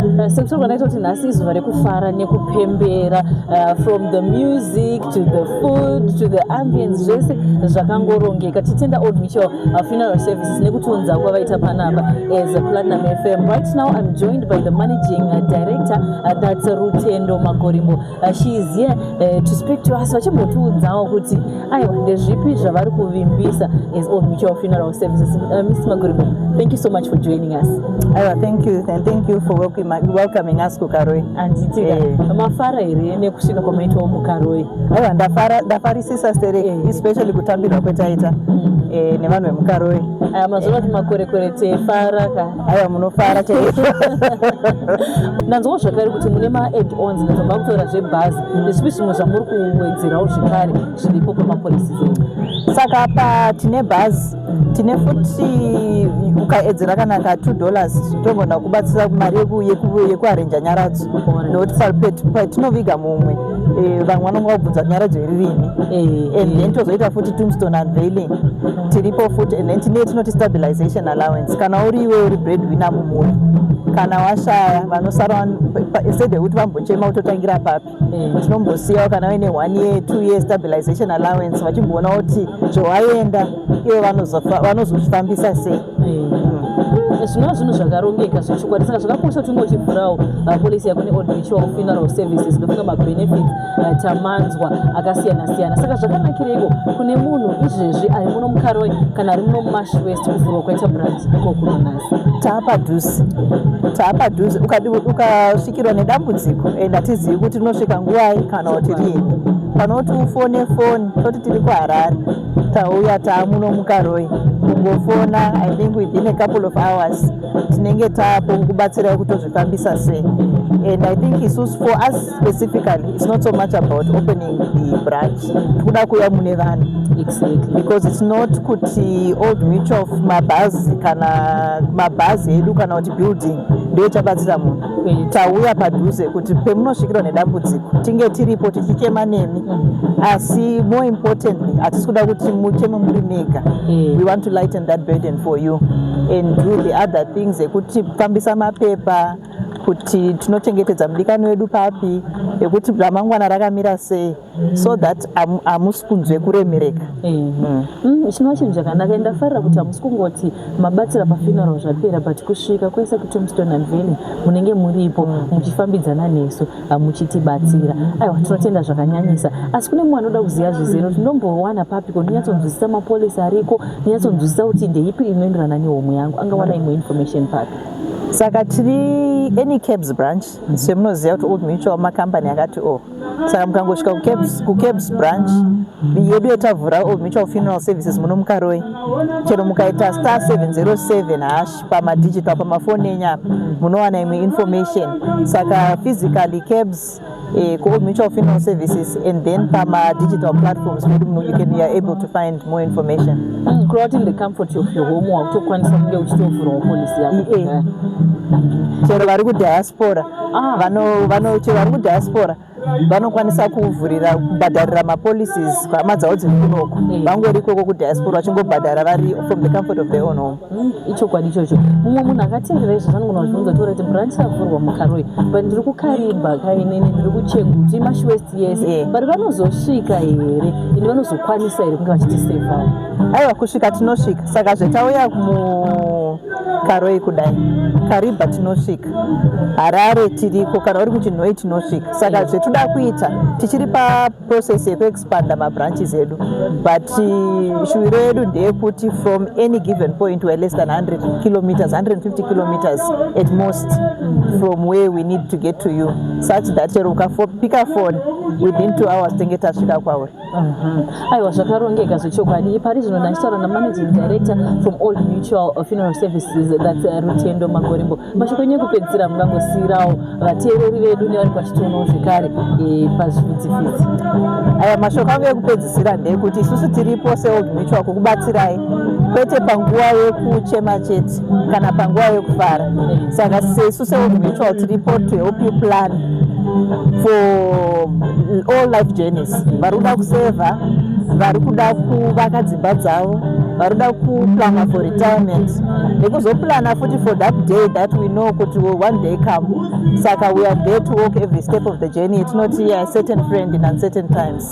Uh, semusoro kanaita kuti nhasi izuva rekufara nekupembera uh, from the music to the food to the ambience zvese zvakangorongeka titenda old mutual uh, funeral services nekutiunza kwavaita panapa as a platinum fm right now i'm joined by the managing director that's rutendo magorimbo Uh, she is here uh, to speak to us vachimbotiudzawo kuti aiwa ndezvipi zvavari kuvimbisa as all mutual funeral services uh, mr maguri thank you so much for joining us aiwa thank you and thank you for welcoming us kukaroi anditika eh. mafara here nekusvika kwamaitawo mukaroi aiwa ndafarisisa sere eh. especially kutambirwa kwetaita mm. eh, nevanhu vemukaroi mazuva kuti makorekore tefara ka aiwa munofara chaizvo ndanzwawo zvakare kuti mune maadd ons ndatobva kutora zvebhazi nezvipi zvimwe zvamuri kuwedzerawo zvekare zviripo pamapolisi zenu saka pa tine bhazi tine futi ukaedzera kana ka two dollars togona kubatsira mari yekuarenja nyaradzo nokuti patinoviga mumwe Eh, vamwe vanonga vabvunza nyara dzeririmi eh, and then tozoita futi tombstone unveiling tiripo futi and then tine tinoti stabilization allowance kana uri iwe uri bread winner mumhuri kana washaya vanosara instead yekuti vambochema kutotangira papi eh. tinombosiyawo kana vaine one year two year stabilization allowance vachimboona kuti zvowaenda ivo vanozozvifambisa sei zvinova zvinhu zvakarongeka zvechokwadi saka zvakakosha kuti unge uchivhurawo uh, polisi yako neold ritual funeral services ndofunga mabenefits uh, tamanzwa akasiyana siyana saka zvakanakireiko kune munhu izvezvi ari muno mukaroi kana ari muno mumash west kuvhurwa kwaita branch iko kuno nhasi taapadhuze taapadhuze ukasvikirwa nedambudziko and hatizivi kuti rinosvika nguvai kana kuti rii panoti ufone foni toti tiri kuharare tauya taamuno mukaroi kungofona i think within a couple of hours tinenge taapo kubatsirai kutozvifambisa sei and i think isusu for us specifically it's not so much about opening the branch tikuda kuuya mune vanhu exactly. because it's not kuti old mutual mabhazi kana mabhazi edu kana kuti building ndochabatsira munhu tauya padhuze kuti pemunosvikirwa nedambudziko tinge tiripo tichichema nemi asi more importantly hatisi kuda kuti mucheme muri mega we want to lighten that burden for you and do the other things ekuti fambisa mapepa kuti tinochengetedza mudikani wedu papi ekuti ramangwana rakamira sei so that hamusi kunzwe kuremereka chinova chinhu chakanaka and ndafarira kuti hamusi kungoti mabatsira pafuneral zvapera but kusvika kwese kutombstone and valley munenge muripo muchifambidzana nesu muchitibatsira aiwa tinotenda zvakanyanyisa asi kune mumwe anoda kuziva zvizero tinombowana papi ko ndinyatsonzwisisa mapolisi ariko ndinyatsonzwisisa kuti ndeipi inoenderana nehomwe yangu angawana imwe information papi saka tiri any cabs branch semunoziva kuti old mutual macompany akati o oh, saka mukangosvika kucabs branch yedu yetavhura old mutual funeral services muno mukaroi chero mukaita star 707 hash pamadigit pa pamafoni enyu apa munowana imwe information saka physically cabs eh, kuold mutual funeral services and then pamadigital platforms medu muno you can youare able to find more information mm, kureva kuti in the comfort of your home wakutokwanisa kunge uchitovhurawo polisi yako eh, eh. chero vari kudiaspora ah. vano vano chero vari kudiaspora vanokwanisa kuvhurira kubhadharira mapolicies hama dzavo dziri kunoko mm. vangori ikoko kudiaspora vachingobhadhara vari from the comfort of their own home mm, ichokwadi ichocho mumwe munhu akatenderei zvazvanogona kuzvibvunza tora kuti branch yavhurwa mukaroi but ndiri kukarimba kainene ndiri kucheguti mashwest yese but vanozosvika here ende vanozokwanisa here kunge vachitisevao aiwa kusvika tinosvika saka zvetauya mu karoi kudai kariba tinosvika harare tiriko kana uri kuchinhoi tinosvika saka mm. zvetinoda kuita tichiri paprocess yekuexpanda mabranches edu but uh, shuviro yedu ndeyekuti from any given point were less than 100 kilometers 150 kilometers at most mm. from where we need to get to you such that chero ukapika fone within two hours tenge tasvika kwauri aiwa zvakarongeka zvechokwadi ipari zvino ndachitaura namanaging director from old mutual funeral services that uh, rutendo magorimbo mashoko enyu ekupedzisira mungangosiirawo vateereri vedu nevari kwachitionoo zvekare e, pazvivhidzivhidzi aya mashoko angu ekupedzisira ndeyekuti isusu tiripo seold mutual kukubatsirai kwete panguva yekuchema chete kana panguva yekufara saka sesu seomutual tiripo to help you plan for all life journeys vari kuda kusevha vari kuda kuvaka dzimba dzavo vari kuda kuplana for retirement nekuzoplana futi for that day that we know kuti one day come saka we are there to walk every step of the journey tinoti yeah, certain friend in uncertain times